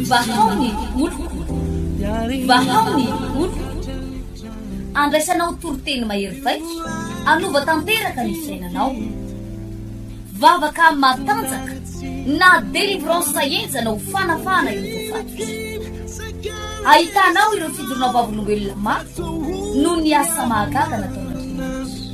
Vahao ny oloko, vahao ny oloko, andraisanao toriteny mahery vaika, anova tanteraka ny fiainanao. Vavaka matanjaka na délivrance henjana ho fanafahana ireo voafaty. Ahitanao ireo fidorona vavolombelona maro noho ny asa mahagaga nataon'Andriamanitra.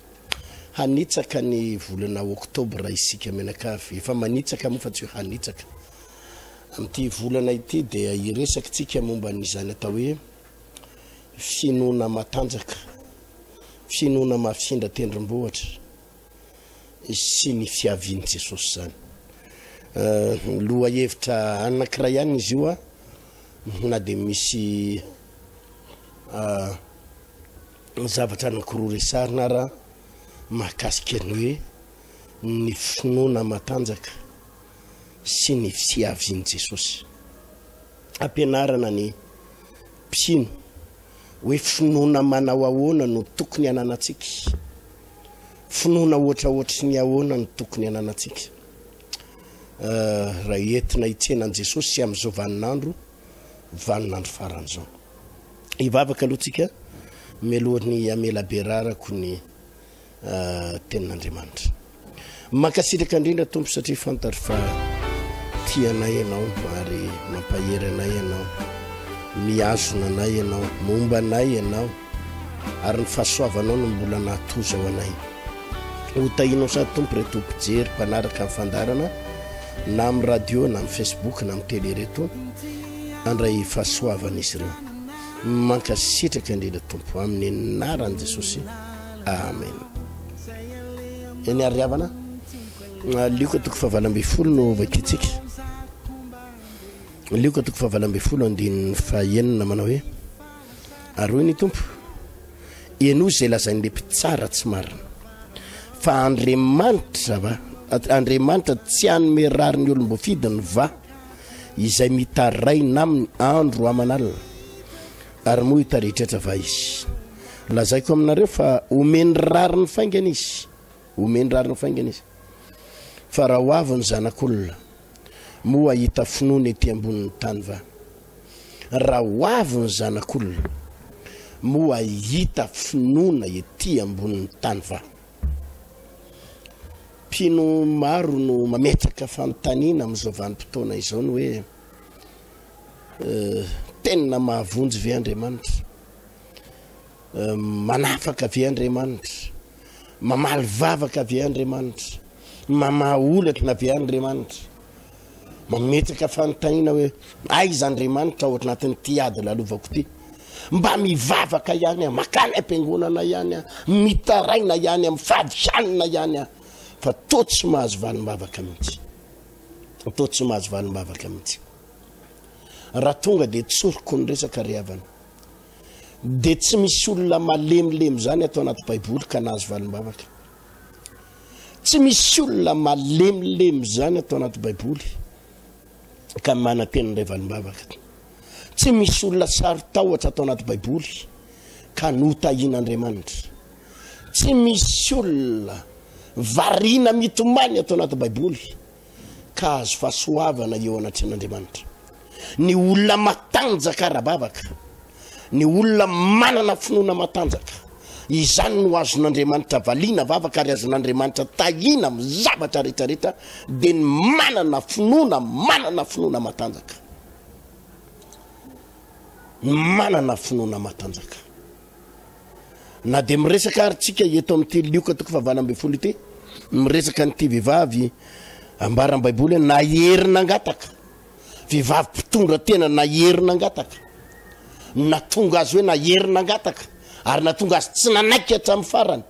Hanitsaka ny volana oktobra isika mianakavy. Efa manitsaka moa fa tsy hoe hanitsaka. Amin'ity volana ity dia hiresakitsika momba an'izany atao hoe finoana matanjaka, finoana mafindra tendrombohitra sy ny fiavian'i Jesosy izany. Lohahevitra anankiray ihany izy io na dia misy Ny zavatra anankiroa resahina ara mahakasika ny hoe ny finoana matanjaka sy ny fiavian'i Jesosy. Ampianarana ny mpino hoe finoana manao ahoana no tokony ananantsika. Finoana hoatrahoatry ny ahoana no tokony ananantsika. Eh, raha entina hitsena an'i Jesosy amin'izao vaninandro, vaninandro faran'izao. Hivavaka aloha tsika mialohan'ny hamela be rarako ny tenin'Andriamanitra. Mankasitraka indrindra Tompo satria fantatro fa tia anay ianao ary mampahery anay ianao. Mihazona anay ianao, momba anay ianao ary ny fahasoavanao no mbola nahatoza ho anay. Hotahinao sady Tompo re Tompo mpijery mpanaraka ny fandarana na amin'ny radio na amin'ny Facebook na amin'ny télé reto. andray fahasoavan'izy ireo mankasitraka indrindra tompo amin'ny anaran'i jesosy amen eny ary havana lioka toko fahavala ambe folo no vakintsika lioka toko fahavala ambe folo andininy fahenina manao hoe aroy ny tompo ianao izay lazain'le mpitsara tsy marina fa andriamanitra va andriamanitra tsy anome rary ny olom-boafidiny va Izay mitaraina aminy andro aman'alina, ary moa hitaritratra va izy? Lazaiko aminareo fa homeny rariny faingana izy, homeny rariny faingana izy. Fa raha ho avy ny Zanak'olona, moa hahita finoana ety ambonin'ny tany va? Raha ho avy ny Zanak'olona, moa hahita finoana ety ambonin'ny tany va? Mpino maro no mametraka fanontaniana amin'izao vanim-potoana izao ny hoe, Tena mahavonjy ve Andriamanitra? Manafaka ve Andriamanitra? Mamaly vavaka ve Andriamanitra? Mamaha olatra ve Andriamanitra? Mametraka fanontaniana hoe, aiza Andriamanitra ao anatin'ity ady lalovako ity? Mba mivavaka ihany aho, makany am-piangonana ihany aho, mitaraina ihany aho, mifady hanina ihany aho, fa toa tsy mahazo valim-bavaka mihitsy. Toa tsy mahazo valim-bavaka mihitsy. Raha tonga dia tsoriko ny resaka ry havana. Dia tsy misy olona malemilemy izany ato anaty Baiboly ka nahazo valim-bavaka. Tsy misy olona malemilemy izany ato anaty Baiboly ka manantena indray valim-bavaka. Tsy misy olona saro-tahotra ato anaty Baiboly ka notahian'Andriamanitra. Tsy misy olona variana mitomany ato anaty Baiboly. ka hahazo fahasoavana eo anatrehan'Andriamanitra. Ny olona matanjaka ara-bavaka, ny olona manana finoana matanjaka, izany no azon'Andriamanitra valiana vavaka ary azon'Andriamanitra tahiana amin'ny zavatra rehetrarehetra, dia ny manana finoana, manana finoana matanjaka. Ny manana finoana matanjaka. Na dia miresaka ary tsika eto amin'ity lioka toko fahavalo ambin'ny folo ity, miresaka an'ity vehivavy ambaran'ny baiboly hoe nahery nangataka, vehivavy mpitondra tena nahery nangataka, natonga azy hoe nahery nangataka ary natonga azy tsy nanaiky hatramin'ny farany,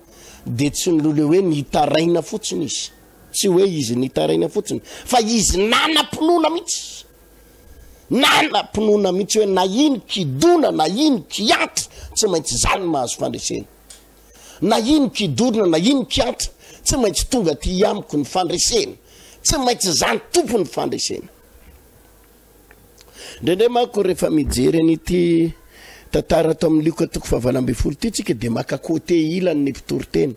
dia tsy nilole hoe nitaraina fotsiny izy, tsy hoe izy nitaraina fotsiny fa izy nanam-pinoana mihitsy. Nanam-pinoana mihitsy hoe na iny kidona na iny kiantra tsy maintsy izany no mahazo fandresena. Na iny kidorona na iny kiantra tsy maintsy tonga aty amiko ny fandresena. Tsy maintsy izany tompo ny fandresena. Indraindray manko rehefa mijery an'ity tantara ato amin'ny lioka toko fahavalo ambin'ny folo ity tsika dia maka côté ilany ny mpitoriteny.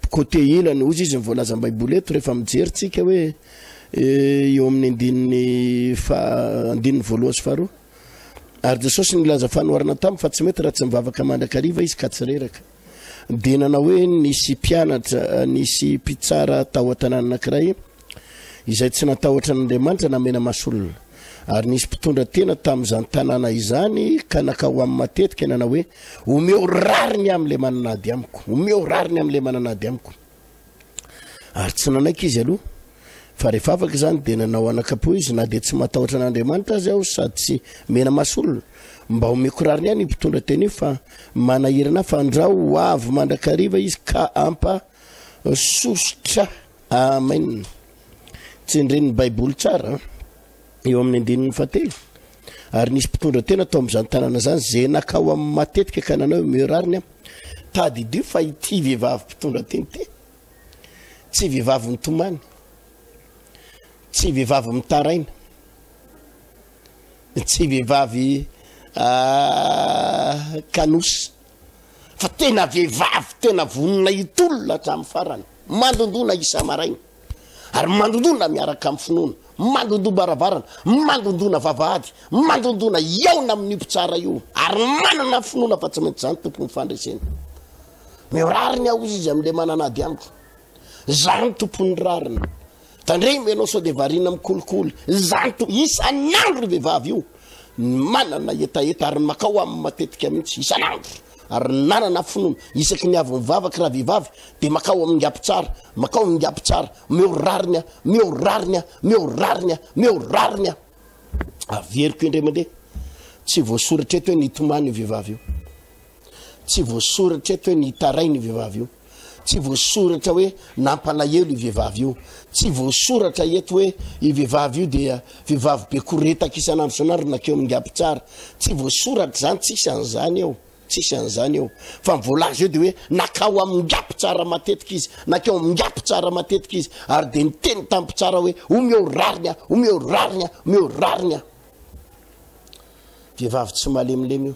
Côté ina no ozy izy no voalazan'ny baiboly eto rehefa mijery tsika hoe eo amin'ny andininy faha andininy voalohany sy faharoa ary Jesosy nilaza fanoharana taminy fa tsy mety raha tsy mivavaka mandrakariva izy ka tsy reraka dia nanao hoe nisy mpianatra nisy mpitsara tao an-tanàna anankiray izay tsy natahotra an'Andriamanitra na mena-mas'olona. Ary nisy mpitondra tena tamin'izany tanàna izany ka nakao aminy matetika nanao hoe, Omeo rariny aho amin'ilay manana ady amiko, omeo rariny amin'ilay manana ady amiko. Ary tsy nanaiky izy aloha. Fa rehefa afaka izany dia nanao anakapo izy, na dia tsy matahotra an'Andriamanitra aza aho sady tsy mena-mas'olona. Mba omeko rariny aho ny mpitondra tena io fa manahirana ahy, fandrao ho avy mandrakariva izy ka hampa sosotra Amen. Tsindrin' ny Baiboly tsara eo amin'ny andininy fahatelo. Ary nisy mpitondra tena tao amin'izany tanàna izany izay nakao amin'ny matetika ka nanao io mieux rariny aho. Tadidio fa ity vehivavy mpitondra teny ity tsy vehivavy mitomany, tsy vehivavy mitaraina, tsy vehivavy ah, kanosy. fa tena vehivavy tena vonona hitolona hatramin'ny farany, mandondona isa-maraina ary mandondona miaraka amin'ny finoana, mandondom-baravarana, mandondona vavahady, mandondona hiaona amin'io mpitsara io ary manana finoana fa tsy maintsy izany tompon'ny fandresena. Meo rariny aho izy amin'ilay manana ady amiko. Izany tompon'ny rariny. Tandremo ianao sao dia variana amin'ny kolikoly. Izany to, isan'andro io vehivavy io no manana hetaheta ary makao aminy matetika mihitsy, isan'andro. Ary ny nanana finoana, isaky ny avy mivavaka raha vehivavy dia makao amin'ny ngabo tsara, makao ny ngabo tsara, meo rariny a, meo rariny a, meo rariny a, meo rariny a. Averiko indray mandeha, tsy voasoratra eto hoe nitomany io vehivavy io. Tsy voasoratra eto hoe nitaraina io vehivavy io. Tsy voasoratra hoe nampalahelo io vehivavy io. Tsy voasoratra eto hoe io vehivavy io dia vehivavy be koretaka isan'andro isan'andro nakeo amin'ny Gap Tsara. Tsy voasoratra izany, tsisy an'izany eo. Tsisy an'izany eo. Fa ny voalaza eo dia hoe nakao amin'ny Gap Tsara matetika izy, nakeo amin'ny Gap Tsara matetika izy ary dia niteny tamin'ny mpitsara hoe omeo rariny aho, omeo rariny aho, omeo rariny aho. Vehivavy tsy malemilemy io.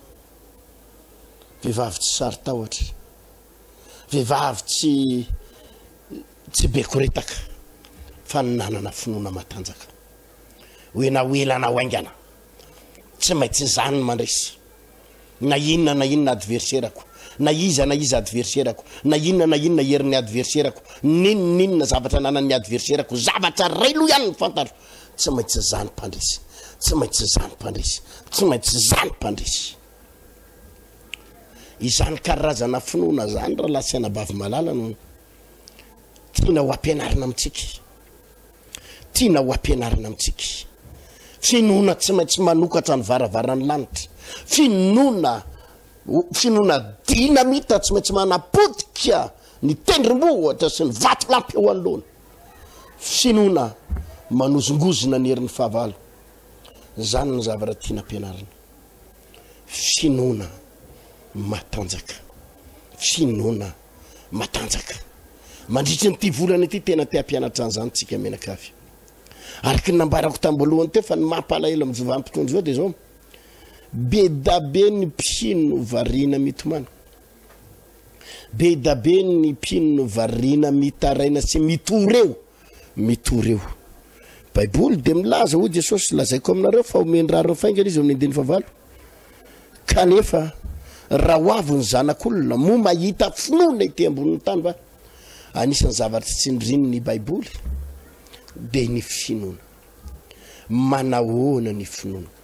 vehivavy tsy saro-tahotra, vehivavy tsy tsy be koretaka fa ny nanana finoana matanjaka. Hoena ho ela na ho aingana, tsy maintsy izany no mandresy. Na inona na inona adverserako, na iza na iza adverserako, na inona na inona herin'ny adverserako, n'inona n'inona zavatra ananan'ny adverserako, zavatra iray loha ihany ny fantaro Tsy maintsy izany mpandresy. Tsy maintsy izany mpandresy. Tsy maintsy izany mpandresy. Izany karazana finoana izany rahalahy sy anabavy malala no tiana ho ampianarina amintsika. Tiana ho ampianarina amintsika. Finoana tsy maintsy manokatra ny varavaran'ny lanitra. Finoana finoana dinamita tsy maintsy manapotika ny tendrombohitra sy ny vatolampy eo anoloana. Finoana manozongozona ny herin'ny fahavalo. Izany ny zavatra tiana ampianarina. Finoana matanjaka. Finoana matanjaka. Mandritra an'ity volana ity tena te hampianatra an'izany tsika mianakavy. Araka ny nambarako tambolohany teo fa ny mampalahelo amin'ny jovan'mpitondra izao dia izao. Be dabe ny mpino variana mitomany. Be dabe ny mpino no variana mitaraina sy mitory eo, mitory eo. Baiboly dia milaza hoy Jesosy, lazaiko aminareo fa omeny raha ireo faingana izy amin'ny andininy fahavalo. Kanefa raha ho avy ny zanak'olona, moa mahita finoana ety ambonin'ny tany va? Anisan'ny zavatra tsindriny ny Baiboly dia ny finoana. Manahoana ny finoana?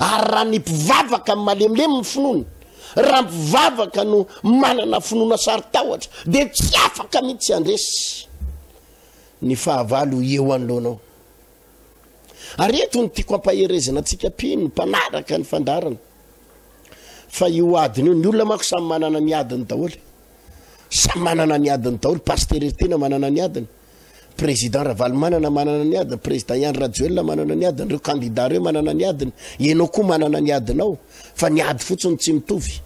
Ary raha ny mpivavaka no malemilemy ny finoany, raha ny mpivavaka no manana finoana sarotahotra, dia tsy afaka mihitsy handresy ny fahavalo eo anoloanao. Ary eto ny tiako ampaherezana antsika mpino mpanaraka ny fandarana fa io adiny io ny olona mako samy manana ny adiny daholo samy manana ny adiny daholo pasitera tena manana ny adiny Président Ravalomanana manana ny adiny, Président Ihany Rajoelina manana ny adiny, ireo candidats ireo manana ny adiny, ianao koa manana ny adinao, fa ny ady fotsiny tsy mitovy.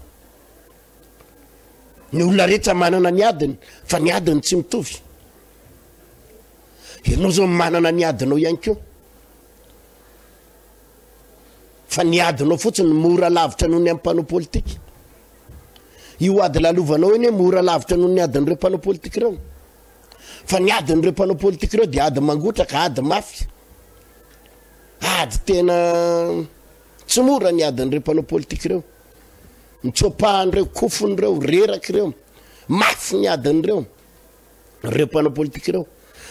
Ny olona rehetra manana ny adiny, fa ny adiny tsy mitovy. Ianao zao manana ny adinao ihany koa. Fa ny adinao fotsiny mora lavitra noho ny amin'ny mpanao politika. Io ady lalovanao iny mora lavitra noho ny adin'ireo mpanao politika ireo. Fa ny adin'ireo mpanao politika ireo dia ady mangotraka, ady mafy. Ady tena tsy mora ny adin'ireo mpanao politika ireo. Mitsoapahan'ireo kofon'ireo, reraka ireo. Mafy ny adin'ireo. Ireo mpanao politika ireo.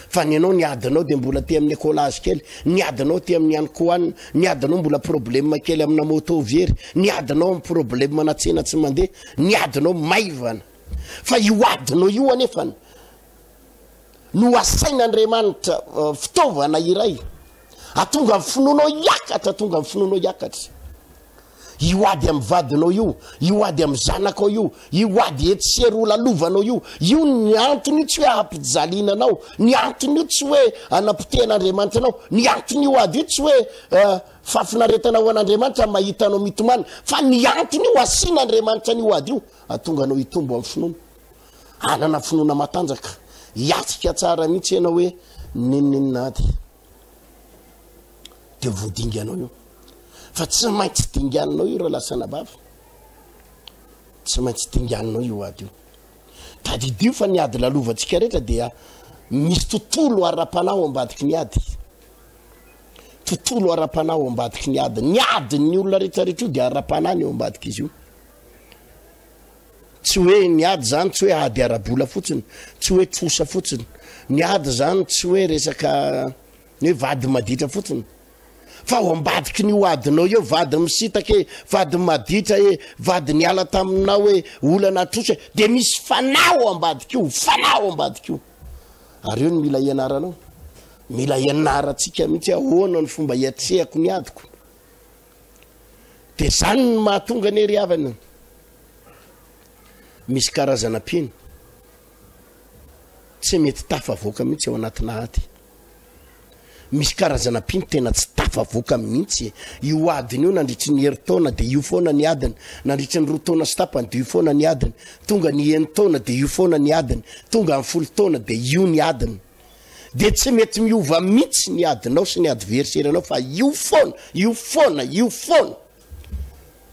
Fa ny anao ny adinao dia mbola te amin'ny écolage kely, ny adinao te amin'ny ankoanina, ny adinao mbola problème kely amina moto very, ny adinao amin'ny problème na tsena tsy mandeha, ny adinao maivana. Fa io adinao io anefany no asain'Andriamanitra fitaovana iray atonga ny finoanao hiakatra, atonga ny finoanao hiakatra. Io ady amin'ny vadinao io, io ady amin'ny zanakao io, io ady etsy sy eroa lalovanao io, io ny antony io tsy hoe hampijaliana anao, ny antony io tsy hoe hanapitehan'Andriamanitra anao, ny antony io ady io tsy hoe uh, fahafinaretana ho an'Andriamanitra mahita anao mitomany, fa ny antony io asian'Andriamanitra an'io ady io, Hahatonga anao hitombo amin'ny finoana. Hanana finoana matanjaka. Hiatrika tsara mihitsy ianao hoe n'inon'inona ady. Dia voadinganao io. Fa tsy maintsy dinganinao io raha lasa anabavy. Tsy maintsy dinganinao io ady io. Tadidio fa ny ady lalovantsika rehetra dia misy tontolo ara-panahy ao ambadiky ny ady. Tontolo ara-panahy ao ambadiky ny ady. Ny adin'ny olona rehetra rehetra io dia ara-panahy ny ao ambadik'izy io. Tsy hoe ny ady zany tsy hoe ady ara-bola fotsiny, tsy hoe trosa fotsiny. Ny ady zany tsy hoe resaka ny hoe vady maditra fotsiny. Fa ao ambadiky ny ho adinao eo, vady misitaka e, vady maditra e, vady niala taminao e, olana atrosa e, dia misy fanahy ao ambadik'io, fanahy ao ambadik'io. Ary eo ny mila ianaranao. Mila ianarantsika mihitsy ahoana ny fomba iatrehako ny adiko. Dia izany no mahatonga anie ry havana, misy karazana mpino tsy mety tafavoaka mihitsy ao anatina ady. Misy karazana mpino tena tsy tafavoaka mihitsy. Io adiny io nandritry ny herintaona dia io foana ny adiny, nandritry ny roa taona sy tapany dia io foana ny adiny, tonga ny enin-taona dia io foana ny adiny, tonga amin'ny folo taona dia io ny adiny. dia tsy mety miova mitsy ny adinao sy ny adversaire anao fa io foana io foana io foana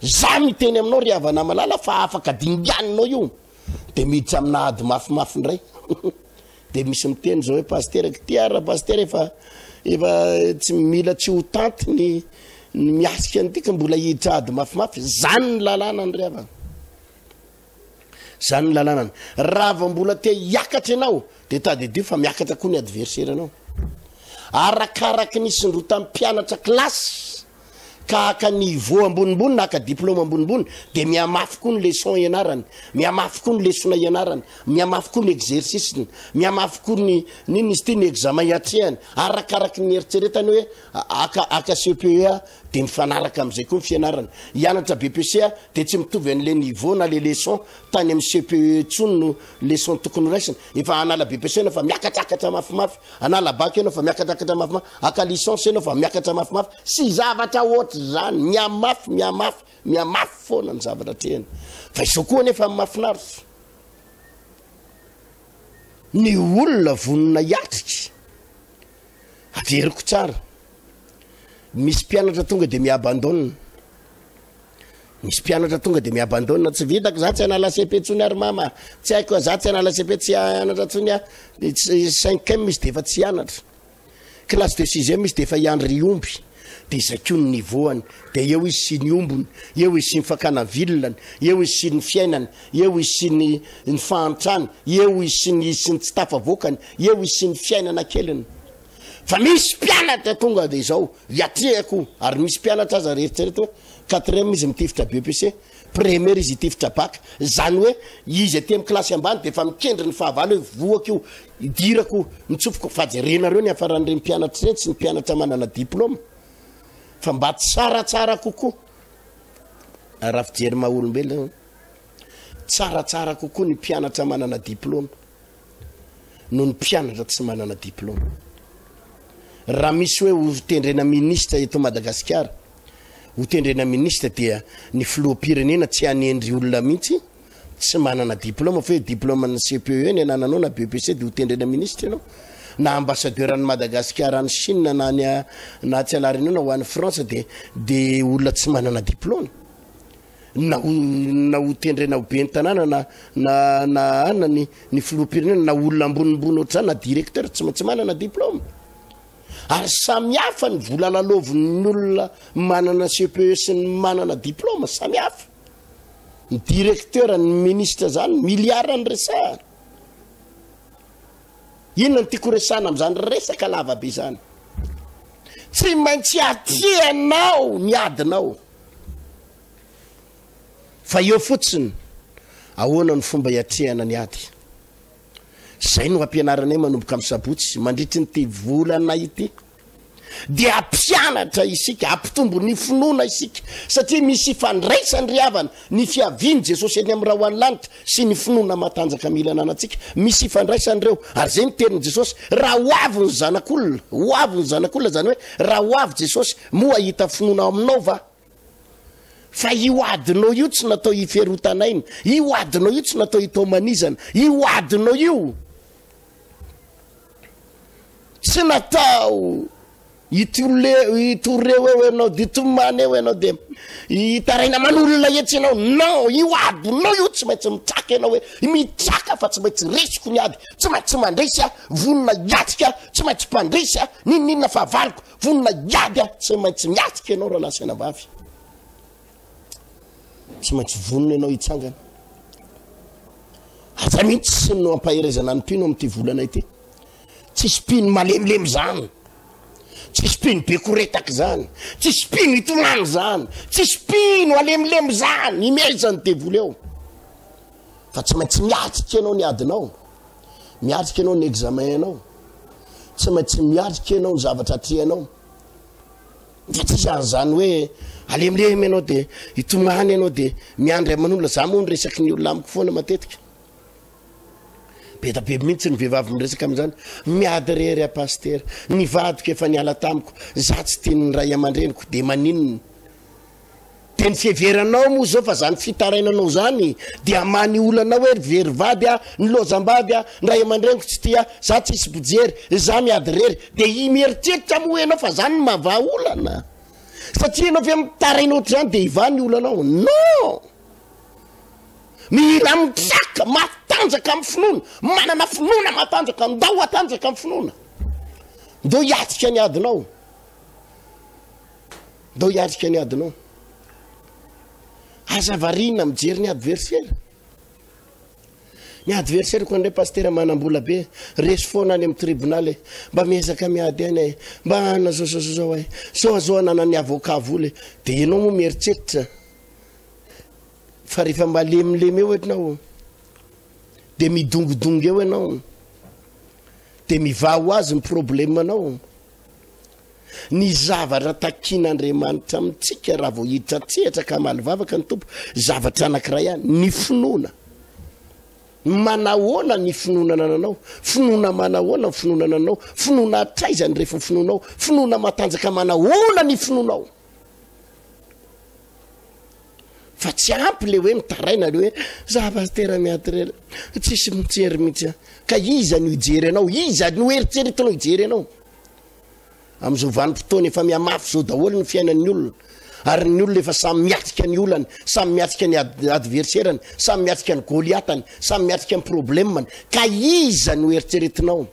za miteny aminao ry havana malala fa afaka dinganinao io dia miditra amina ady mafimafy indray dia misy miteny zao hoe pastera kitia ra pastera efa efa tsy mila tsy ho tanty ny ny miasika an'ity ka mbola hiditra ady mafimafy zany ny lalàna ny ry havana Izany ny lalanany. Raha vao mbola te hiakatra ianao dia tadidio fa miakatra koa ny adversaire anao. Arakaraky ny isondrotan'ny mpianatra kilasy ka haka niveau ambonimbony na haka diplôme ambonimbony dia mihamafy koa ny leçon ianarany, mihamafy koa ny lesona ianarany, mihamafy koa ny exercice-ny, mihamafy koa ny n'inona izy ity ny examen atrehany arakaraky ny eritreretany hoe Aka aka CPEA dia mifanaraka amin'izay koa ny fianarana. Hianatra BEPC dia tsy mitovy an'ilay niveau na ilay leçon tany amin'ny CPEE intsony no leçon tokony horaisina. Efa hanala BEPC ianao fa miakatakatra mafimafy, hanala bac ianao fa miakatakatra mafimafy, haka licence ianao fa miakatra mafimafy sy zavatra ohatr'izany. Mihamafy, mihamafy, mihamafy foana ny zavatra atrehina. Fa izao koa anefa ny mahafinaritra, ny olona vonona hiatrika, Averiko tsara. Misy mpianatra tonga de mi-abandonne. Misy mpianatra tonga de mi-abandonne. Tsy vitako za tsy hanala CP intsony ary mama. Tsy haiko za tsy hanala CP tsy hianatra intsony a. Ny cinquième izy de efa tsy hianatra. Classe de sixième izy de efa hiandry omby. Dia izay koa ny niveau-ny. Dia eo izy sy ny ombony, eo izy sy ny fakana vilany, eo izy sy ny fiainany, eo izy sy ny ny fahantrany, eo izy sy ny sy ny tsy tafavoakany, eo izy sy ny fiainana keliny. Fa misy mpianatra tonga dia izao, hiatrehako io, ary misy mpianatra aza ary eritrereto hoe quatrième izy mitifitra BEPC, première izy hitifitra bac, izany hoe izy aty amin'ny kilasy ambany dia efa mikendry ny fahavalo hoe vohako io, Idirako mitsopoko fa jerenareo ny hafaran'ireny mpianatra ireny sy ny mpianatra manana diploma fa mba tsaratsara kokoa ah, raha fijery maha olombelona tsaratsara kokoa ny mpianatra manana diploma noho ny mpianatra tsy manana diploma raha misy hoe ho tendrena ministra eto Madagasikara ho tendrena ministra dia ny filoham-pirenena tsy hanendry olona mihitsy tsy manana diplôme fa hoe diplôme an'ny CPE ny anananao na BEPC dia ho tendrena ministra ianao na ambassadeur an'i Madagasikara any Chine na any na tsy alarinao na ho any France dia dia olona tsy manana diplôme na ho na ho tendrena ho ben'ny tanàna na na na ana ny ny filoham-pirenena na olona ambonimbony ohatr'izany na directeur tsy tsy manana diplôme ary samy hafa ny vola lalaovin'ny olona manana CPE sy ny manana diplôme samy hafa ny directeur ny ministre zany milliard ny resahana inona ny tiako resahana am'zany resaka lavabe zany tsy maintsy atrehanao ny adinao fa eo fotsiny ahoana ny fomba iatrehana ny ady zay no ampianaranay manomboka amin'ny sabotsy mandritry ny ty volana ity dia hampianatra isika, hampitombo ny finoana isika, satria misy ifandraisany ry havana ny fiavian'i Jesosy eny amin'ny ra ho any lanitra sy ny finoana matanjaka mila ananantsika, misy ifandraisany ireo, ary izay ny teny Jesosy, raha ho avy ny zanak'olona, ho avy ny zanak'olona, izany hoe raha ho avy Jesosy, moa hahita finoana ao aminao va? Fa io adinao io tsy natao hiferotan'aina, io adinao io tsy natao hitaomanizana, io adinao io tsy natao itole itoreo eo ianao de tomany eo ianao de hitaraina aman'olona etsy ianao non io adinao io tsy maintsy mitraka ianao hoe mitraka fa tsy maintsy resiko ny ady tsy maintsy mandresy a vonona hiatrika tsy maintsy mpandresy a ninoninona fa valiko Vonona iaby aho, tsy maintsy miatrika ianao rahalahy sy anabavy. Tsy maintsy vonona ianao hitsangana. Aza mihitsy sy no ampaherezana ny mpino amin'ity volana ity. Tsisy mpino malemilemy izany. Tsisy mpino be koretaka izany. Tsisy mpino itonany izany. Tsisy mpino alemilemy izany. Imezan'ny devoly eo. Fa tsy maintsy miatrika ianao ny adinao. Miatrika ianao ny examen anao. Tsy maintsy miatrika ianao ny zavatra atrehanao. Dia tsy izany izany hoe alemilemy ianao dia hitomany ianao dia miandry aman'olona. Za moa ny resaky ny olona amiko foana matetika. Be da be mihitsy ny vehivavy miresaka amin'izany. Miady rery a pasitera. Ny vadiko efa niala tamiko. Za tsy tian'ny ray aman-dreniko dia maninona? De ny fiheveranao moa zao fa zany fitarainanao zany dia many olana hoe ry very vady a, ny lojambavy a, ny ray aman-dreniko tsy tia, za tsisy mpijery, za miady rery. De i mieritreritra moa enao fa zany no mahavaha olana? Satria enao ve mitaraina ohatr'izany de hivaha ny olanao? Non! Mila mitraka, matanjaka amin'ny finoana, manana finoana matanjaka, ndao hatanjaka amin'ny finoana. Ndao hiatrika ny adinao. Ndao hiatrika ny adinao. Aza variana mijery ny adversaire. Ny adversaire ko ndray pasteur manambola be, resy foana any amin'ny tribunal e. Mba miezaka miady aina e. Mba ana zao zao zao ay. Sao azao ananan'ny avocat vola e. De ianao moa mieritreritra fa rehefa malemilemy eo ianao de midongidongy eo ianao de mivaha ho azy ny problème anao ny zavatra takian'Andriamanitra amintsika raha vao hiditra an-tsehatra ka hamaly vavaka ny Tompo, zavatra anankiray ihany, ny finoana. Manahoana ny finoana nananao? Finoana manahoana ny finoana nananao? Finoana hatraiza ny refin'ny finoanao? Finoana matanjaka manahoana ny finoanao? fa tsy ampy le hoe mitaraina le hoe za pastera miatrela tsisy mijery mihitsy ka iza no hijery anao iza no eritreretinao hijery anao Amin'izao vanim-potoana efa mihamafy izao daholo ny fiainan'ny olona ary ny olona efa samy miatrika ny olany, samy miatrika ny adverserany, samy miatrika ny goliatany, samy miatrika ny problemany, ka iza no eritreretinao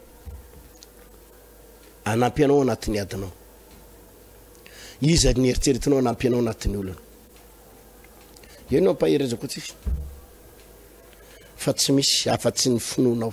anampy anao anatin'ny adinao? Iza ny eritreretinao anampy anao anatin'ny olana? Eo no ampaherezako atsify fa tsy misy afa-tsy ny finoanao.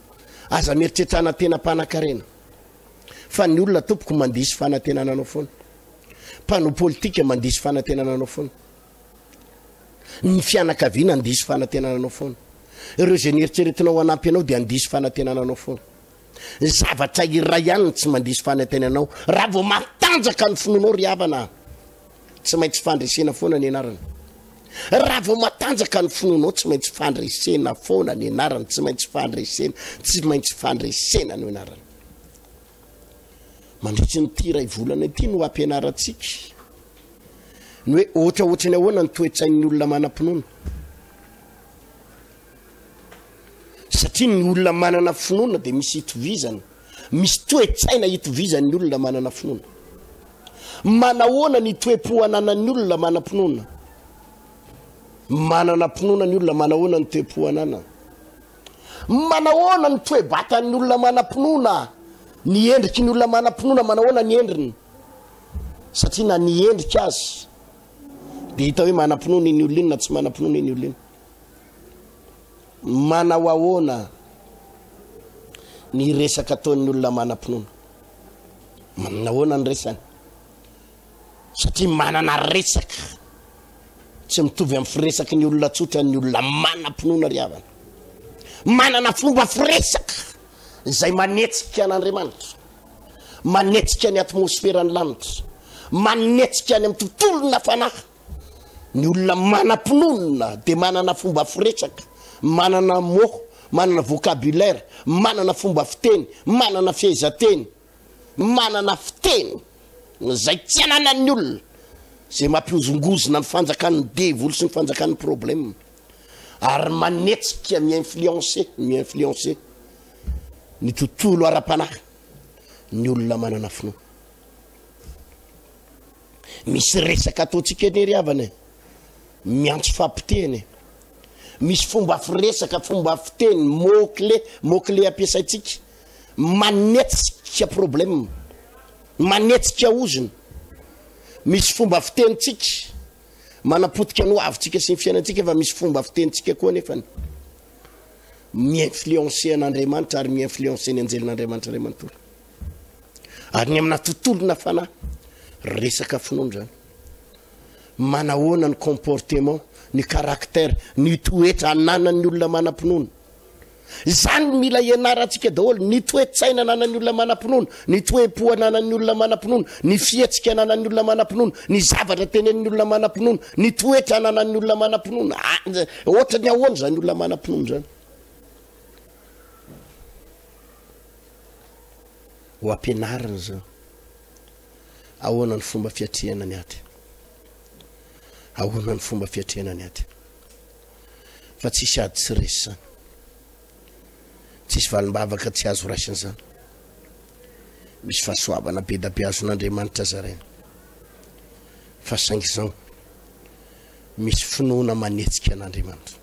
Aza mieritreritra hanantenam-panankarena fa ny olona tompoko mandiso fanantenana anao foana. Mpanao politika mandiso fanantenana anao foana. Ny fianakaviana handiso fanantenana anao foana. Ireo izay nieritreritinao hanampy anao dia handiso fanantenana anao foana. Zavatra iray ihany tsy mandiso fanantenana anao raha vao matanjaka ny finoanao ry havana. Tsy maintsy fandresena foana ny anarany. Raha vao matanjaka ny finoanao, tsy maintsy fandresena foana ny anarany, tsy maintsy fandresena, tsy maintsy fandresena no anarany. Mandritry ny tia iray volana ity no ampianarantsika ny hoe ohatra ohatra ny ahoana ny toetsain'ny olona manam-pinoana. Satria ny olona manana finoana dia misy itovizana. Misy toe-tsaina itovizan'ny olona manana finoana. Manahoana ny toe-po ananan'ny olona manam-pinoana? Manana finoana ny olona manahoana ny toe-po ananany? Manahoana ny toe-batan'ny olona manam-pinoana? Ny endriky ny olona manam-pinoana manahoana ny endriny? Satria na ny endrika azy dia hita hoe manam-pinoana iny olona iny na tsy manam-pinoana iny olona iny. Manao ahoana ny resaka ataon'ny olona manam-pinoana? Manana ahoana ny resany? Satria manana resaka tsy mitovy amin'ny firesaky ny olona tsotra ny olona manam-pinoana ry havana. Manana fomba firesaka izay manetsika an'Andriamanitra, manetsika ny atmosferan'ny lanitra, manetsika any amin'ny tontolona fanahy. Ny olona manam-pinoana dia manana fomba firesaka, manana mots, manana vocabulaire, manana fomba fiteny, manana fehezanteny, manana fiteny izay tsy ananan'ny olona, izay mampihozongozona ny fanjakan'ny devoly sy ny fanjakan'ny problème ary manetsika mi-influencer, mi-influencer ny tontolo ara-panahy ny olona manana finoana. Misy resaka ataontsika anie ry havana e. Miantso fampitehana e. Misy fomba firesaka, fomba fiteny, mot clé, mot clé ampiasaintsika. Manetsika problème. Manetsika ozona. Misy fomba fitenintsika. Manapotika ny hoavintsika sy ny fiainantsika fa misy fomba fitenintsika koa nefany. Mi-influencer an'Andriamanitra ary mi-influencer ny anjelin'Andriamanitra Andriamatoa. Ary ny amina tontolona fanahy, resaka finoana zany. Manahoana ny comportement, ny caractère, ny toetra ananan'ny olona manam-pinoana. Izany mila ianarantsika daholo ny toe-tsaina ananan'ny olona manam-pinoana, ny toe-po ananan'ny olona manam-pinoana, ny fihetsika ananan'ny olona manam-pinoana, ny zavatra tenen'ny olona manam-pinoana, ny toetra ananan'ny olona manam-pinoana. Ah, ohatra ny ahoana zany olona manam-pinoana zany. ho ampianarina izao. Ahoana ny fomba fiatrehana ny ady? Ahoana ny fomba fiatrehana ny ady? Fa tsisy ady tsy resy izany. Tsisy valimbavaka tsy azo raisina izany. Misy fahasoavana be da be azon'Andriamanitra zaraina. Fa saingy izao, misy finoana manetsika an'Andriamanitra.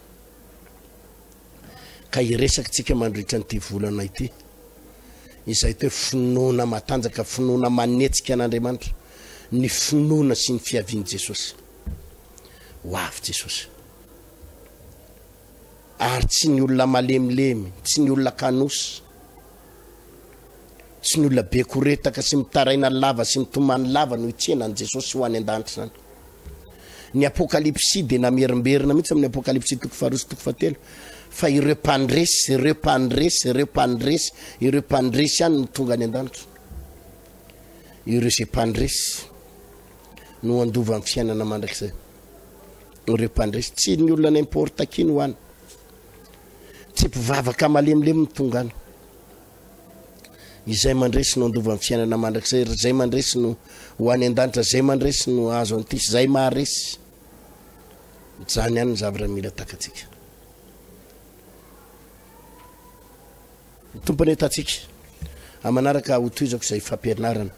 ka hiresakitsika mandritra an'ity volana ity izay toe finoana matanjaka, finoana manetsika an'Andriamanitra, ny finoana sy ny fiavian'i Jesosy. Ho avy Jesosy. Ary tsy ny olona malemilemy, tsy ny olona kanosy, Tsy ny olona be koretaka sy mitaraina lava sy mitomany lava no hitsena an'i Jesosy ho any an-danitra izany. Ny Apokalypsy dia namerimberina mihitsy amin'ny Apokalypsy toko faharoa sy toko fahatelo fa ireo mpandresy, ireo mpandresy, ireo mpandresy, ireo mpandresy ihany no tonga any an-danitra. Ireo izay mpandresy no handova amin'ny fiainana mandrakizay. Ireo mpandresy, tsy ny olona n'importe qui no any. Tsy mpivavaka malemilemy no tonga any. Izay mandresy no andovan'ny fiainana mandrakizay, ry izay mandresy no ho any an-danitra, izay mandresy no ahazo an'ity, izay maharesy. Izany ihany ny zavatra mila takatsika. Tompony hitantsika amanaraka hotohizako izay fampianarana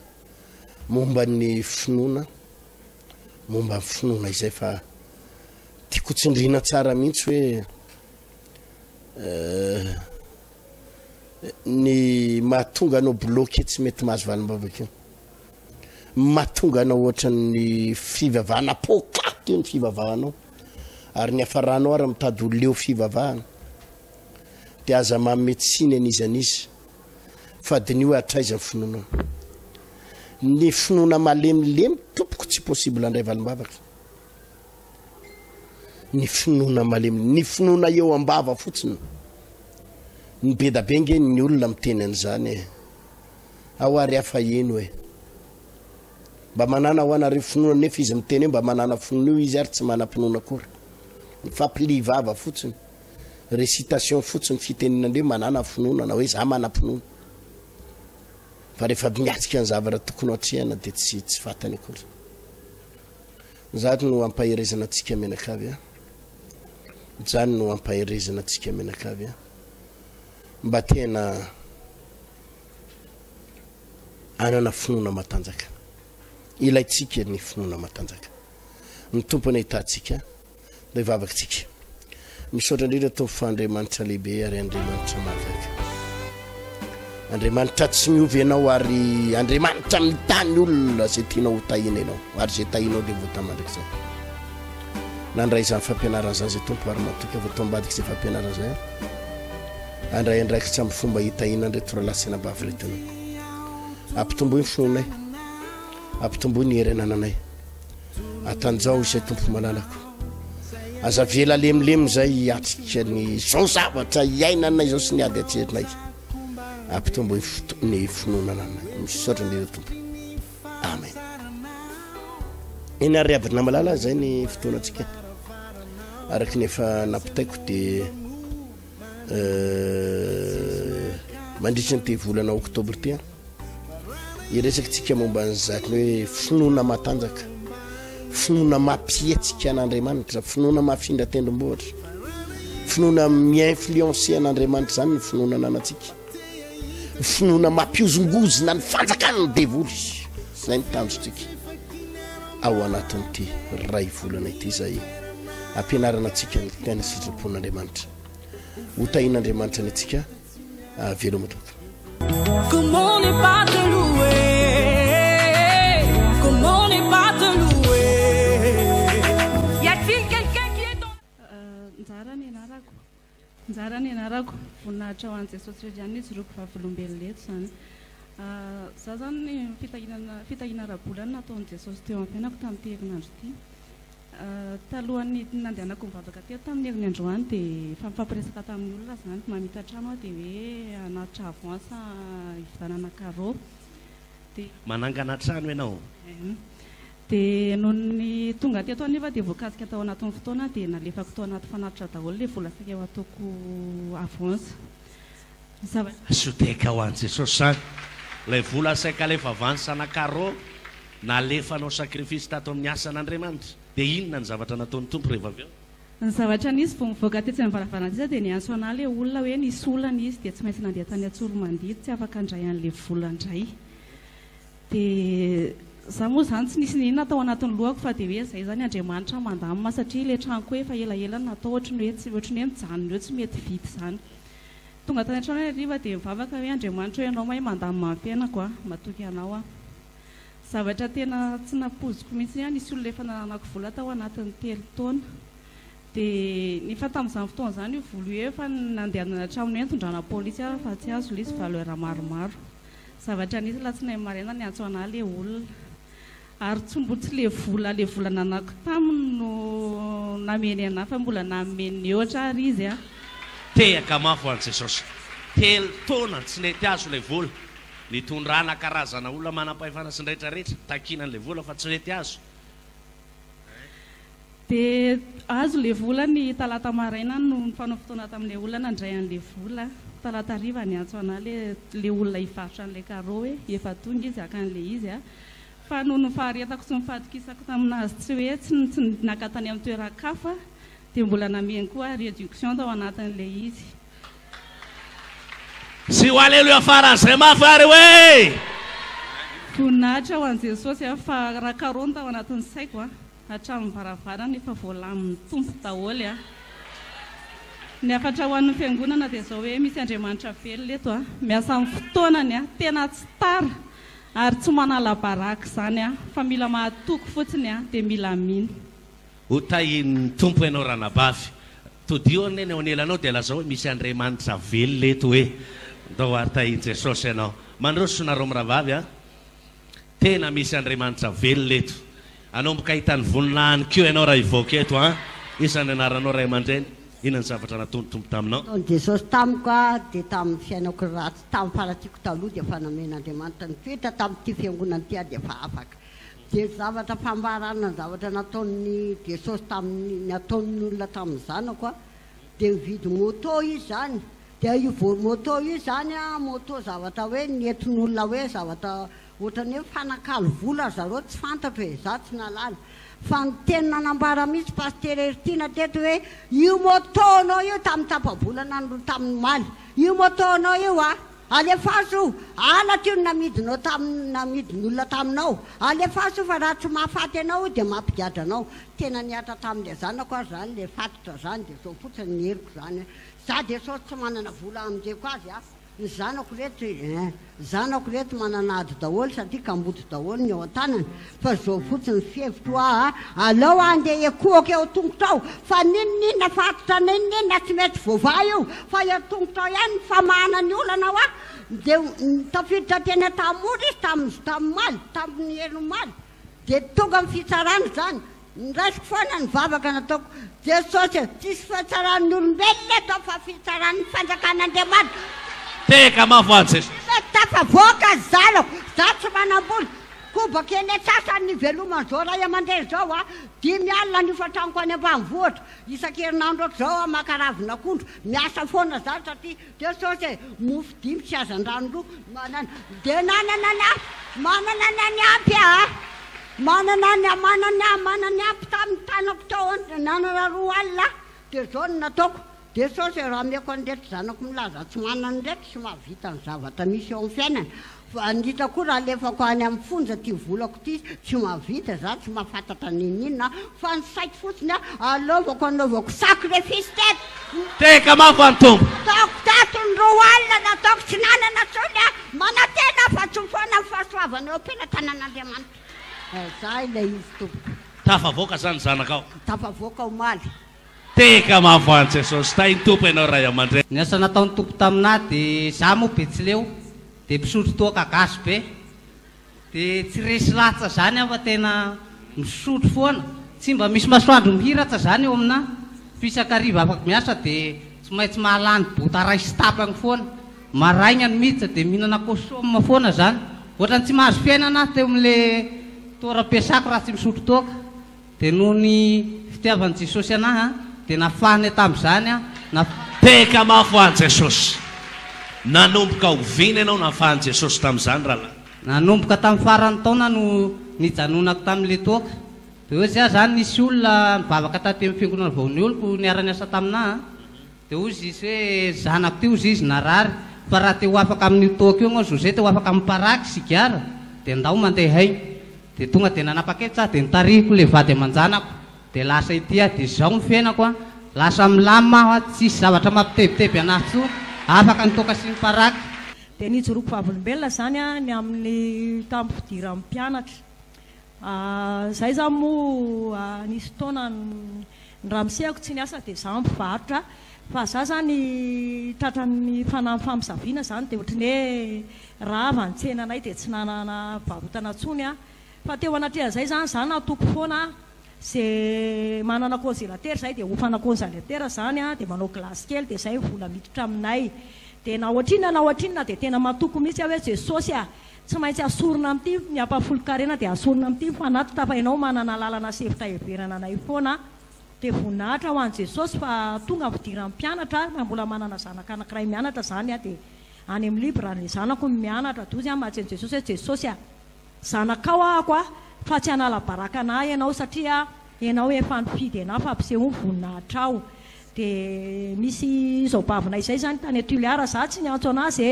momba ny finoana momba ny finoana izay fa tiako tsindrina tsara mihitsy hoe eh, ny mahatonga anao bloqué tsy mety mahazo valim-bavaka mahatonga anao ohatran'ny fivavahana pokaty io ny fivavahanao ary ny hafaranao ary mitady ho leo fivavahana dia aza mametsiany anizan'izy fa diniho hatraiza finoanao ny finoana malemilemy tompoko tsy possible andray valimbavaka ny finoana malemy ny finoana eo ambava fotsiny ny bedabe nge ny olona miteny an'izany e ao ary hafa eno e mba manana ho anareo finoana nefa izy miteny hoe mba manana finoana io izy ary tsy manam-pinoana akory mifampiliha vava fotsiny Récitation fotsiny fitenin'Andriamanitra manana finoana na hoe za manam-pinoana. Fa rehefa miatrika ny zavatra tokony ho atrehana dia tsy tsy fantany akory. Izany no ampaherezana antsika mianakavy a. Izany no ampaherezana antsika mianakavy a. Mba tena anana finoana matanjaka. Ilaintsika ny finoana matanjaka. Ny tompony ahitantsika. Ilay vavakantsika. Misaotra indrindra Tompo fa Andriamanitra lehibe ary Andriamanitra mahagaga. Andriamanitra tsy miova ianao ary Andriamanitra mitany olona izay tianao ho tahina ianao ary izay tahinao dia vota mandrakizay. Nandray izany fampianarana izany izay Tompo ary matoky avy atao ambadika izay fampianarana izay. Andray andraikitra amin'ny fomba hitahina andry toralahy sy anabavy retina. Ampitomboy ny fonay. Ampitomboy ny hery anananay. Atanjaho izay tompo mananako aza vela lemilemy izay hiatrika ny izao zavatra hiainana izao sy ny ady atserinay ampitombo ny finoanana anay misaotra ny ireo tompo amen eny ary aby na malala izay ny fotoanantsika araka ny efa nampitaiko dia mandritra an'ity volana oktobra ity an iresakintsika momba an'izany hoe finoana matanjaka finoana mampihetsika an'andriamanitra finoana mafindra tendrombohitra finoana mi-influencer an'andriamanitra izany ny finoana ananantsika ny finoana mampihozongozona ny fanjakan'ny devoly zay ny tanjontsika ao anatin'ity ray volana ity zay ampianarana antsika ny tena sitrapon'andriamanitra ho tahin'andriamanitra ny antsika avelo ah, matoto Njara nianarako, voninahitra ho an'i Jesosy rery ihany ny hijoroako vavolombelona eto izany. Za zany ny fitahiana fitahiana ara-bola no nataon'i Jesosy teo amin'ny fiainako tamin'ity herinandro ity. Talohan'ny nandehanako nivavaka teto tamin'ny herin'ny androany dia efa nifampiresaka tamin'ny olona zany, mamita trano aho dia hoe hanatitra avance hividanana carreaux dia Manangana trano ianao? Eeh. Dia nony tonga teto anefa dia voakasika tao anatin'ny fotoana dia nalefako tao anaty fanatitra daholo ilay vola sakeo ataoko avance. Ny zavatra. Soteka ho an'i Jesosy izany. Ilay vola saika alefa avance ana Caro, nalefa hanao sacrifice tato amin'ny asan' Andriamanitra. Dia inona ny zavatra nataon'ny Tompo rehefa avy eo? Ny zavatra nisy, vao nivoaka tetsy amin'ny varavarana sisa dia niantso ana ilay olona hoe nisy olana izy dia tsy maintsy nandeha tany Antsoromandia tsy afaka handray an'ilay vola indray. Dia za moa zany tsy nisy na inona tao anatin'ny lohako fa dia hoe zay zany Andriamanitra mandamina satria ilay tranoko efa elaela no natao ohatry ny hoe tsy ohatry ny hoe mijanona eo tsy mety vita izany. Tonga tany an-trano hariva dia nivavaka hoe Andriamanitra o ianao mahay mandamina ny fiainako a! matoky anao aho. Zavatra tena tsy nampoiziko mihitsy aho nisy olona efa nananako vola tao anatin'ny telo taona. Dia nefa tamin'izany fotoana izany io vola io efa nandehanana hatramin'ny hoe nitondrana polisy aho fa tsy azo ilay izy valeur maromaro. Zavatra nisy alatsinainy maraina niantso anah le olona ary tsy mbo tsy le vola le vola nanako taminy no nameny anah fa mbola nanome ny mihoatra ary izy a. Tehaka mafy an'i Jesosy. Telo taona tsy nety azo ilay vola. Nitondrana karazana olona manam-pahefana sy ny rehetra rehetra, takiana an'ilay vola fa tsy nety azo. Dia azo ilay vola ny talata maraina no nifanao fotoana tamin'ilay olona nandray an'ilay vola. Talata hariva niantso anah ilay ilay olona hivarotra an'ilay carreau hoe efa tonga izy haka an'ilay izy a. Fa noho ny faharetako sy ny fahatokisako tamin'azy tsy hoe tsy tsy naka tany amin'ny toeran-kafa dia mbola namehiny koa ahy réduction tao anatin'ilay izy. Sy ho aleloia faran'izay mafy ary hoe. Voninahitra ho an'i Jesosy an! Fa raha karony tao anatin'ny saiko an! Hatramin'ny varavarana efa voalamin'ny Tompo daholo an! Ny hafatra ho an'ny fiangonana dia izao hoe misy Andriamanitra velona eto an! Miasa amin'ny fotoanany an! Tena tsy tara ary tsy manala baraka izany an! Fa mila mahatoky fotsiny an! Dia mila mino. Ho tahin'ny Tompo ianao Ranabavy. Todiho anie ny ao anelanao dia lazao hoe misy Andriamanitra velona eto hoe ndao ary tahin'i Jesosy ianao. Mandroso nareo mirahavavy a! Tena misy Andriamanitra velona eto. Hanomboka hahita ny voninahiny koa ianao raha hivoaka eto an! Iza ny anaranao ray aman-dreny? Inona ny zavatra nataony ny Tompo taminao? Nataon'i Jesosy tamiko a! Dia tamin'ny fiainako ratsy tamin'ny faharatsiako taloha dia efa namen'Andriamanitra nitoetra tamin'ity fiangonana ity aho dia efa afaka. Dia ny zavatra fambarana ny zavatra nataon'i Jesosy tamin'ny, ny ataon'ny olona tamin'ny zanako a, dia mividy moto izy izany, dia io voa moto io izany a, moto zavatra hoe nentin'olona hoe zavatra ohatran'ny hoe mifanakalo vola ry zareo tsy fantatro e, za tsy nahalala, fa ny teny nanambara mihitsy Pasitera Herittina teto hoe io moto anao io tamin'ny tapa-bolana no tamin'omaly, io moto anao io a, Alefaso o! Halatra io no namidinao tamin'ny namidin'olona taminao. Alefaso o fa raha tsy mahafaty anao io dia mampigadra anao. Tena nihatra tamin'ilay zanako aza izany, ilay fatotra izany dia izao fotsiny ny heriko izany an! Za dia sao tsy manana vola hamonjeko azy an! Ny zanako ireto, eh! Zanako ireto manana ady daholo satria kamboty daholo ny ao an-tanany. Fa zao fotsiny fihevitro aa, aleo andeha hiekohoka eo tongotrao fa ninoninona fa atotra ninoninona tsy mety voavaha io fa eo tongotrao ihany ny famahana ny olana wa dia tafiditra teny Antahamora izy tamin'ny tamin'ny omaly dia tonga ny fitsarana izany Noraisiko foana ny vavaka nataoko, Jesosy a, tsisy fihatsaran'ny olombelona eto fa fihitsaran'ny fanjakan'Andriamanitra. Teka mafy hoaho Jesosy. Tsy mety tafavoaka ny zanako, za tsy manambola, kobaka eny antsasany ny hiveloman'izao ray aman-dreny izao a, dimy alina ny hofan-tranoko any ambanivohitra, isan-kerinandro ohatr'izao aho maka ravin'akondro, miasa foana za satria. Dia sao dia mofo dimy sy hazandrano roa manana dia nanana ny ampy, manana ny any ampy aho, manana ny amanany aho, manana ny ampy tamin'ny tanako teo an-, nanana roa alina aho, dia izao no nataoko, dia sao dia raha ameko an'ireto zanako milaza tsy manana ireto sy mahavita ny zavatra misy eo amin'ny fiainana, Fanitra koa raha alefako any amin'ny fonja ity volako ity, tsy mahavita za, tsy mahafantatra n'inon'inona aho, fa ny saiko fotsiny a, alaovako anaovako sacrifice teto. Teka mafy any Tompo. Taoko tato ny roa alina nataoko tsy nanana tsony aho, manantena aho fa tsy ho foana ny fahasoavana eo am-pelatanan'Andriamanitra. Zay ilay izy tompoko. Tafavoaka zany zanakao? Tafavoaka omaly. Teka mafy hoany Jesosy tahin Tompo ianao Ray amandreny. Ny asa nataony Tompo tamina de za moa betsileo de misotro toaka gasy be de tsy resy latsa zany aho fa tena misotro foana tsy mba misy masoandro mihiratsa zany eo amina fa isaky hariva afaka miasa de tsy maintsy mahalany bota ray sy tapany foana maraigna ny miditra de mihinana kosoma foana zany ohatrany tsy mahazo fiainana aho teo amle toeram piasako raha tsy misotro toaka. Dia noho ny fitiavan'i Jesosy anah dia nafahany tamin'izany aho. Teka mafy ho'a Jesosy! Nanomboka oviana ianao nafahan'i Jesosy tamin'izany rahalahy? Nanomboka tamin'ny faran'ny taona no nijanonako tamin'ilay toaka. Dia ohatsy aho izany nisy olona nivavaka taty amin'ny fiangonana vao nioloko niara-niasa taminah. Dia hoy Zisy hoe, Zanako ty, hozy izy narary, fa raha te ho afaka amin'io toaka io ianao Zose, te ho afaka amin'ny paraky, sigara, dia ndao mandeha haingana. Dia tonga dia nanapa-kevitra aho, dia nitarihiko ilay vady aman-janako, dia lasa ety aho, dia izao ny fiainako an, lasa milamina aho an, tsisy zavatra mampitebiteby an'ahy intsony, afaka ny toaka sy ny paraky. Dia nijoroako vavolombelona izany an, ny amin'ny tamin'ny fidiran'ny mpianatra. Izay izany moa nisy fotoana ny ramosehako tsy niasa dia izaho mpivarotra fa izaho izany tratran'ny fanahin'ny famosaviana izany dia ohatry ny hoe rava ny tsenanay dia tsy nanana varotana intsony aho. Fa teo anatrehan'izay izany izaho natoky foana izay manana konzelatera izay dia hofana konzaletera izany dia manao gilasy kely dia izay ny vola miditra aminay. Dia na ohatrinona na ohatrinona dia tena matoky mihitsy aho hoe Jesosy a! Tsy maintsy asorina amin'ity ny hampahafolon-karena dia asorina amin'ity ny fanatitra fa ianao manana alalana sy efitra heverana anay foana aho dia voninahitra ho an'i Jesosy fa tonga ny fidiran'ny mpianatra aho raha mbola manana zanaka anankiray mianatra izany aho dia any amin'ny libre ny zanako no mianatra dozy aho mahatsy an'i Jesosy hoe Jesosy a zanakao ahako a fa tsy hanala baraka anah ianao satria ianao efa nifidy anah fa ampisehoy ny voninahitrao dia misy izaobavina izay izany tany Tuléar za tsy niantso anah ze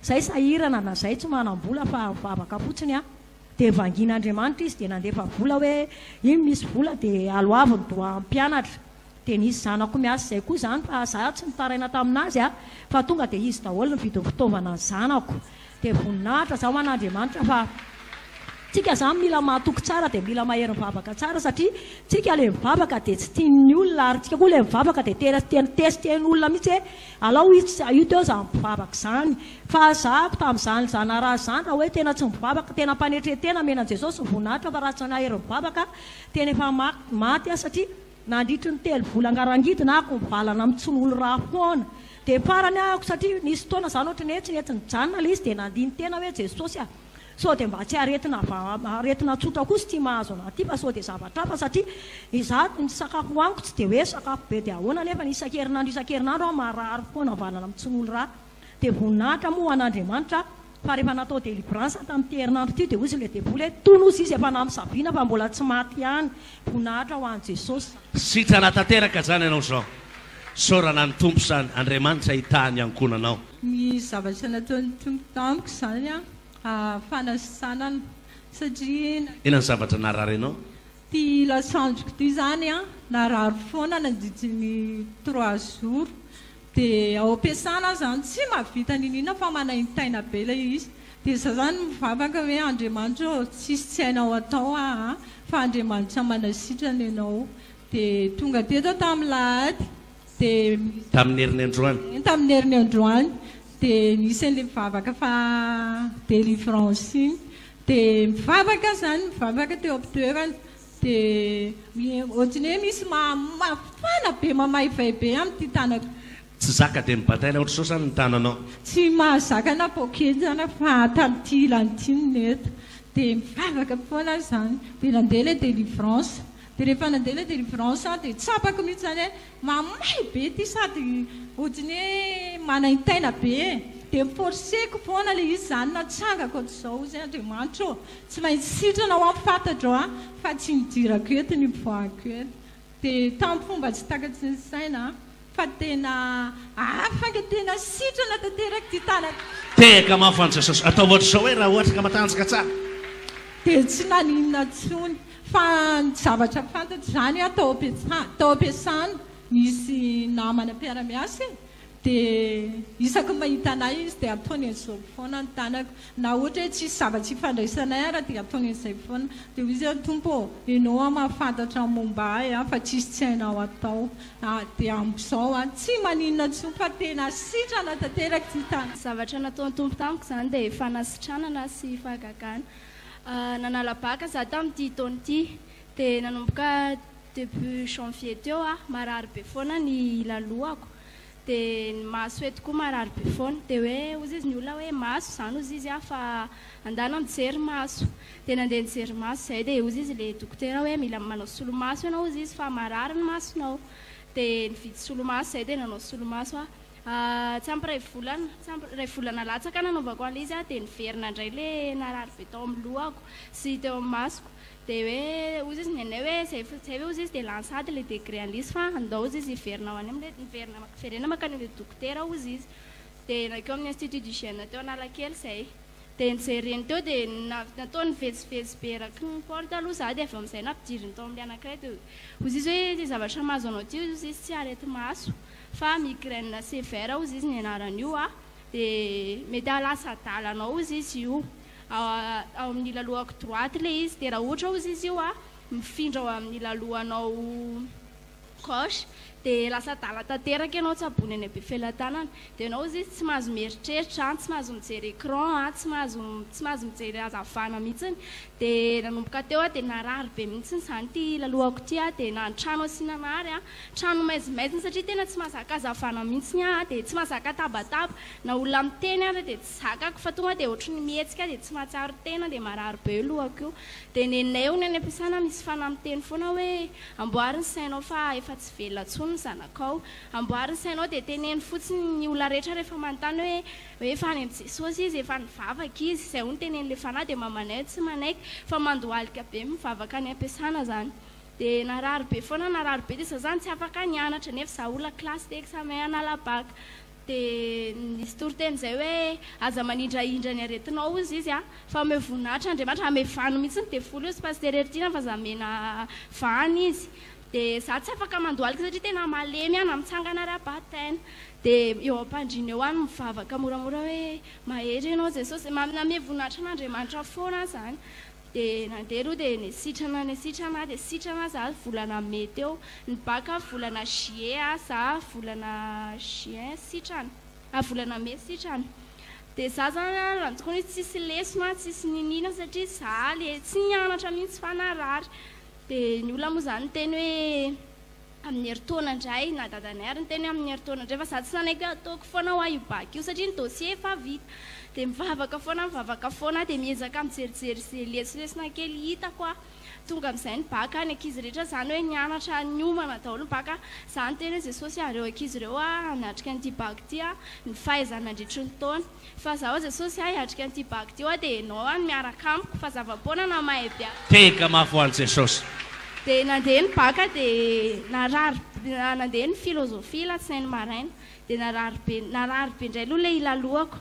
Zay sahirana na zay tsy manambola fa mivavaka fotsiny an dia vangin'Andriamanitra izy dia nandefa vola hoe iny misy vola dia aloavy ny doha mpianatra dia nisy zanako miasa zay koa zany fa za tsy nitaraina taminazy an fa tonga dia izy daholo ny vidin'ny fitaovana ny zanako dia voninahitra za ho an'Andriamanitra fa tsika zany mila mahatoky tsara dia mila mahery mivavaka tsara satria tsika le mivavaka dia tsy tian'ny olona ary tsika koa le mivavaka dia tena tena test en'olona mitsy hoe Alao izy tsy hahio teo za mivavaka zany fa zahako tamzany zanaraha zany raha oe tena tsy mivavaka tena mpanetretena mena jesosy voninahitra fa raha tsy nahery mivavaka tena efa maty aho satria nandritry ny telo vola ngarangidina ako mivalana am tsy nolo raha foana de farany ako satria nisy fotoana zany otrany oe tsy nety nijanona le izy de nandini tena oe jesosy a Sao dia mba tsy aretina aretina tsotra kosa ity mahazo anah ity fa sao dia zavatra hafa satria izaho ny sakafo hohaniko tsy dia hoe sakafo be dia ahoana nefa isan-kerinandro isan-kerinandro aho marary foana havanana amin'ny tsin'olo ra dia voninahitra moa ho an'Andriamanitra aho fa rehefa natao délivrance tamin'ity herinandro ity dia hoy ilay devoly hoe tony hozy izy efa namisaviana fa mbola tsy maty ihany voninahitra ho an'i Jesosy. Sitrana tanteraka izany ianao izao. Isaorana ny Tompo izany. Andriamanitra hitaha ny ankohonanao. Ny zavatra nataon'ny Tompo tamiko izany an, fanasitranana satria na. Inona ny zavatra nararinao? Ity lasandriko ity izany an, narary foana nandritry ny trois jours, dia ao am-piasana aho izany tsy mahavita niniana fa manaintaina be ilay izy, dia za izany mivavaka hoe Andriamanitra ô, tsisy tsy hainao atao aa, fa Andriamanitra manasitrana ianao, dia tonga teto aho tamin'ny lahady, dia tamin'ny herin'ny androany tamin'ny herin'ny androany dia nisy an'ilay mivavaka fa délivrance iny dia mivavaka aho izany mivavaka teo amin'ny toerana dia ohatran'ny hoe misy mafana be mamaivay be amin'ity tanako tsy zaka dia nibataina ohatr'izao izany ny tananao tsy mahazaka na poketra na fa tamin'ity ilany ity no nety dia mivavaka foana aho izany dia nandeha ilay délivrance Dia rehefa nandeha ilay délivrance aho dia tsapako mihitsy izany hoe mamay be ity sady ohatran'ny hoe manaintaina be e! Dia mi-forcer-ko foana ilay izy izany natsangako hatrizao hozy Andriamanitra ô! Tsy maintsy sitrana aho an! Fantatro an! Fa tsy nidirako eto nivoahako eto. Dia tamin'ny fomba tsy takatry ny saina an! Fa tena hafa nga tena sitrana tanteraka ty tanako. Tehaka mafy any sasasa. Atao ohatra izao hoe raha ohatra ka matanjaka tsara. Dia tsy naninona tsony. Fa ny zavatra fantatro izany an, tao ampiasana, tao ampiasana, nisy namana mpiara-miasa e, dia isaky ny mahita anay izy dia ataony an'izao foana ny tanako. Na ohatra hoe tsisy zava-tsy ifandraisanay ara dia ataony izay foana. Dia hoy izy hoe, Tompo ô, Ianao aho mahafantatra ny momba ahy an, fa tsisy tsy hainao atao. A, dia amin'izao an, tsy maninona intsony fa tena sitrana tanteraka ity tany. Zavatra nataon'ny Tompo tamiko izany dia fanasitranana sy fahagagana. A, nanala baka za tamin'ity taona ity. Dia nanomboka début janvier teo an, marary be foana ny lalohako. Dia ny maso eto koa marary be foana. Dia hoe hozy izy ny olona hoe maso izany hozy izy a fa andalo mijery maso. Dia nandeha nijery maso izay dia hozy izy ilay dokotera hoe mila manao solomaso ianao hozy izy fa marary ny masonao. Dia nividy solomaso izay dia nanao solomaso aho. Tsy ampy iray volana, tsy ampy iray volana latsaka nanaovako an'ilay izy dia niverina indray ilay narary be tao amin'ny lohako sy teo amin'ny masoko. Dia hoe ozy izy nenay hoe izay izay ve ozy izy dia lany sady ilay degré an'lisy fa handao ozy izy hiverina ho any amin'ilay niverina hiverena mankany amin'ilay dokotera ozy izy. Dia nankeo amin'ny institut d'hygiène teo Analakely izay. Dia nojereny teo dia na- nataony vezivezy be eraky ny porte aloha izaho dia avy eo amin'izay nampidiriny tao amin'ilay anankiray dia ozy izy hoe ity zavatra mahazo anao ity ozy izy tsy areti-maso fa migraine sévère ozy izy ny anaran'io dia mety hahalasa adala anao ozy izy io. ao amin'ny lalohako droite ilay izy dia raha ohatra ozy izy io mifindra ao amin'ny lalohanao gauche dia lasa adala tanteraka ianao tsaboina any Befelatanana dia ianao ozy izy tsy mahazo mieritreritra tsy mahazo mijery écran tsy mahazo tsy mahazo mijery hazavana mihitsy dia nanomboka teo aho dia narary be mihitsy izany ity lalohako ity aho dia nanotrano asiana nary aho trano maizimaizina satria tena tsy mahazaka hazavana mihitsy aho dia tsy mahazaka tabataba na olona miteny ary dia Zakako fa tonga dia ohatry ny mihetsika dia tsy mahatsiaro tena dia marary be lohako io. Dia nenay hono any am-piasana misy fanahy miteny foana hoe, amboary ny sainao fa efa tsy velona intsony ny zanakao. Amboary ny sainao dia teneno fotsiny ny olona rehetra rehefa manontany hoe hoe efa any amin'i Jesosy izy, efa nivavaka izy. Izay hono tenenin'ilay fanahy dia mamanay hoe tsy manaiky fa mandohalika be mivavaka any am-piasana izany. Dia narary be foana narary be dia sazany tsy afaka nianatra nefa izaho olona kilasy dia examen hanala bac. Dia nisy toriteny izay hoe, Aza manindrahindra ny aretinao, hozy izy an, fa omeo voninahitra Andriamanitra. Hamevano mihitsy ny devoly, hozy Pasitera Heritiana, fa aza omena vahana izy. Dia za tsy afaka mandohalika satria tena malemy aho na mitsangana ara-batn. Dia eo am-pandriana eo aho mivavaka moramora hoe, Mahery Ianao Jesosy. Manome voninahitra an'Andriamanitra foana aho izany. Dia nandeha aloha dia nisitrana nisitrana aho dia sitrana za volana mai teo ny bac a volana juillet a za volana juin sitrana a volana mai sitrana dia za zany a raha ny tokony hoe tsisy lesona a tsisy niniana satria za le tsy nianatra mihitsy fa narary dia ny olona moa zany niteny hoe amin'ny herintaona indray na dadanay ary niteny amin'ny herintaona indray fa za tsy nanaiky hoe ataoko foana hoa io bac io satria ny dossier efa vita dia mivavaka foana mivavaka foana dia miezaka mijerijery izay lesolesona kely hitako aho tonga amin'izay ny bac ny ankizy rehetra zany hoe nianatra niomana daholo ny bac ka za niteny hoe Jesosy a reo ankizy reo hoa hanatrika an'ity bac ity a ny fahaizany nandritry ny taona Fa zaho Jesosy ah hiatrika an'ity bac ty hoa dia enao ah no miaraka amiko fa zava-poana na mahay be aza. Tega mafy ho an'i Jesosy. Dia nandeha ny bac dia narary be, nandeha ny philosophie alatsinainy maraina dia narary be, narary be indray aloha ilay hilaloako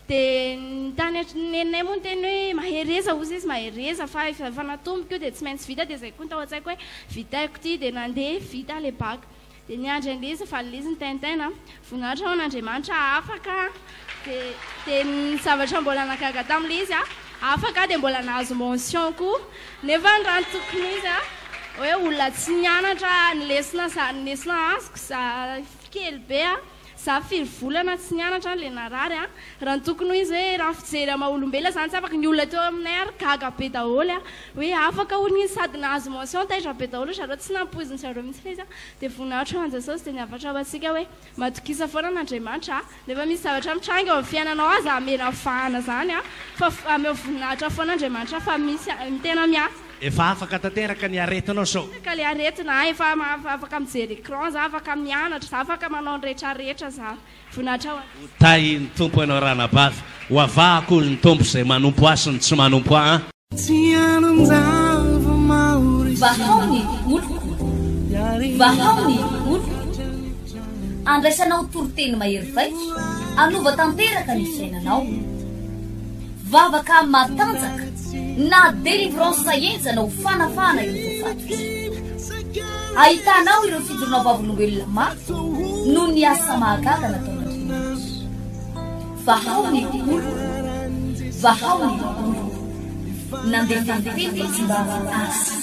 dia ny tany an-trano neninay moa niteny hoe mahereza ozy izy mahereza fa efa natomboko io dia tsy maintsy vita dia izay koa ny tao an-tsaiko hoe vitaiko ity dia nandeha vita ilay bac. Dia niandry an'i Liz, fa Liz ny Tintin a. Voninahitra ho an'Andriamanitra aho afaka dia dia ny zavatra mbola nahagaga tamin'i Liz a, afaka aho dia mbola nahazo mention koa. Nefa ny raha ny tokony izy a, hoe olona tsy nianatra ny lesona za ny lesona azoko za kely be a. Za firy volana tsy nianatra an le narary a! Raha ny tokony ho izy hoe raha ny fijery an maha olombelona zany tsy afaka ny olona teo aminay ary gaga be daholo a! Hoe afaka hono izy sady nahazo mention taitra be daholo ry zareo tsy nampoizin zareo mihitsy le izy a! Dia voninahitr an Jesosy dia ny avatra ho antsika hoe matokisa foana an Andriamanitra a! Na efa misy zavatra mitranga eo amin'ny fiainanao aza amena vahana zany a! Fa ameo voninahitra foana Andriamanitra fa misy tena miasa. Efa afaka tanteraka ny aretinao sao? Afaka le aretina a, efa afaka mijery écran za, afaka mianatra za, afaka manao ny rehetra rehetra za, voninahitra ho an. Ho tahin'ny Tompo ianao ranabavy, ho avahako hoy ny Tompo izay manompo Ahy sy ny tsy manompo Ahy. Vahao ny oloko, vahao ny oloko, andraisanao toriteny mahery vaika, hanova tanteraka ny fiainanao. Vavaka matanjaka na délivrance enjana ho fanafahana ireo voafatotra. Ahitanao ireo fidorona vavolombelona mafy noho ny asa mahagaga nataon'Andriamanitra. Vahao ny olo, vahao ny olo. Nandefa ny teny tsy mba azy.